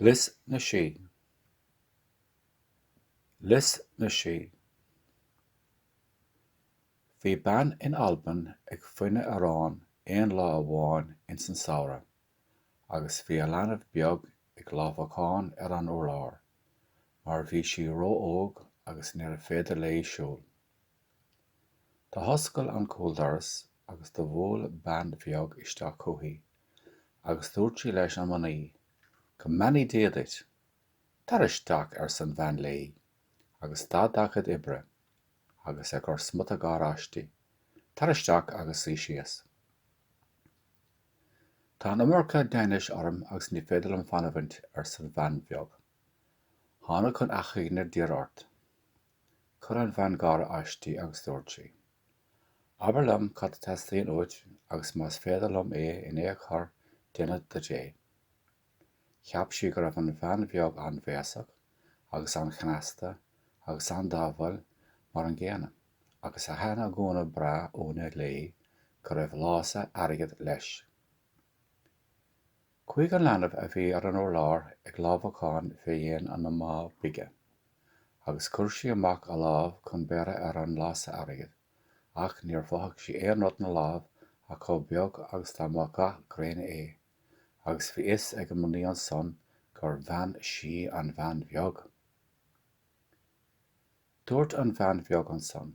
Lios na Sí Lios na Sí Bhí bean in Albain ag fuineadh aráin aon lá amháin ins an Samhradh agus bhí a leanbh beag ag lámhacán ar an urlár mar bhí sí ró-óg agus níorbh fhéidir léi siúl. D'athoscail an cúldoras agus do bhuail bean bheag isteach chúithi agus dúirt sí leis an mnaoi, Go mbeannaí Dia duit! Tar isteach, arsa an bhean léi, agus stad dá cuid oibre agus ag cur smuta gáire aisti, Tar isteach agus suí síos. Tá an iomarca deithnis orm agus ní féidir liom fanamhaint, arsa an bhean bheag. Thánag chun achainí a d'iarraidh ort. Chuir an bhean gáire aisti agus dúirt sí, Abair liom cad a theastaíonn uait agus más féidir liom é in aon chor déanfad duit é. Cheap sí go raibh an bhean bheag an-bhéasach agus an-chneasta agus an-dathúil mar an gcéanna agus do thaithn a gúna breá uaine léi go raibh lása airgid leis. Chuaigh an leanbh a bhí ar an urlár ag lámhacán fé dhéin an mhná bige, agus chuir sí amach a lámh chun beirthe ar an lása airgid, ach níor mhothaigh sí aon rud 'na láimh ach chomh beag agus dá mba gath gréine é, agus bhí fhios ag an mnaoi ansan gur bhean sí an bhean bheag. Dúirt an bhean bheag ansan.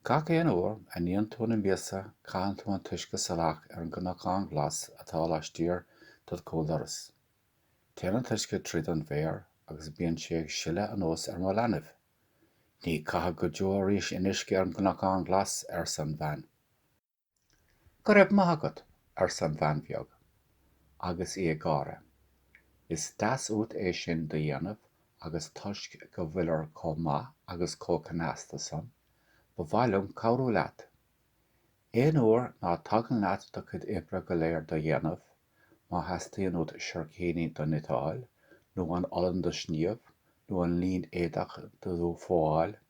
Gach aon uair a níonn tú na miasa caitheann tú an t-uisce salach ar an gcnocán glas atá laistiar dod chúldoras. Téann an t-uisce tríd an bhféar agus bíonn sé ag sileadh anuas ar mo leanbh. Ní chaithfead go deo arís aon uisce ar an gcnocán glas, arsa an bhean. Go raibh maith agat, arsa an bhean bheag, agus í ag gáire. Is deas uait é sin do dhéanamh agus toisc go bhfuilir chomh maith agus chomh cneasta san, ba mhaith liom cabhrú leat. Aon uair ná tagann leat do chuid oibre go léir do dhéanamh, má theastaíonn uait seircíní do niteáil, nó an olann do shníomh, nó an línéadach do dh'fhuáil,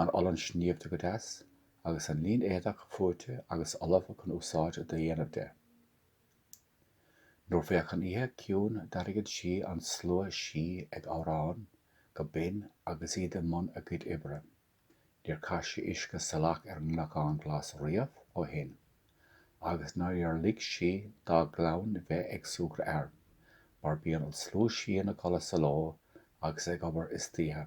an olann sníomhta go deas, agus an lín-éadach fuaite agus ullamh chun úsáid do dhéanamh de. Nuair bheadh an oíche ciúin d'airíodh sí an slua sí ag amhrán go binn agus iad i mbun a gcuid oibre. Níor chaith sí uisce salach ar an gCnocán Glas riamh ó shin, agus níor lig sí dá clann bheith ag súgradh air, mar bíonn an slua sí ina gcodladh sa ló agus ag obair istoíche.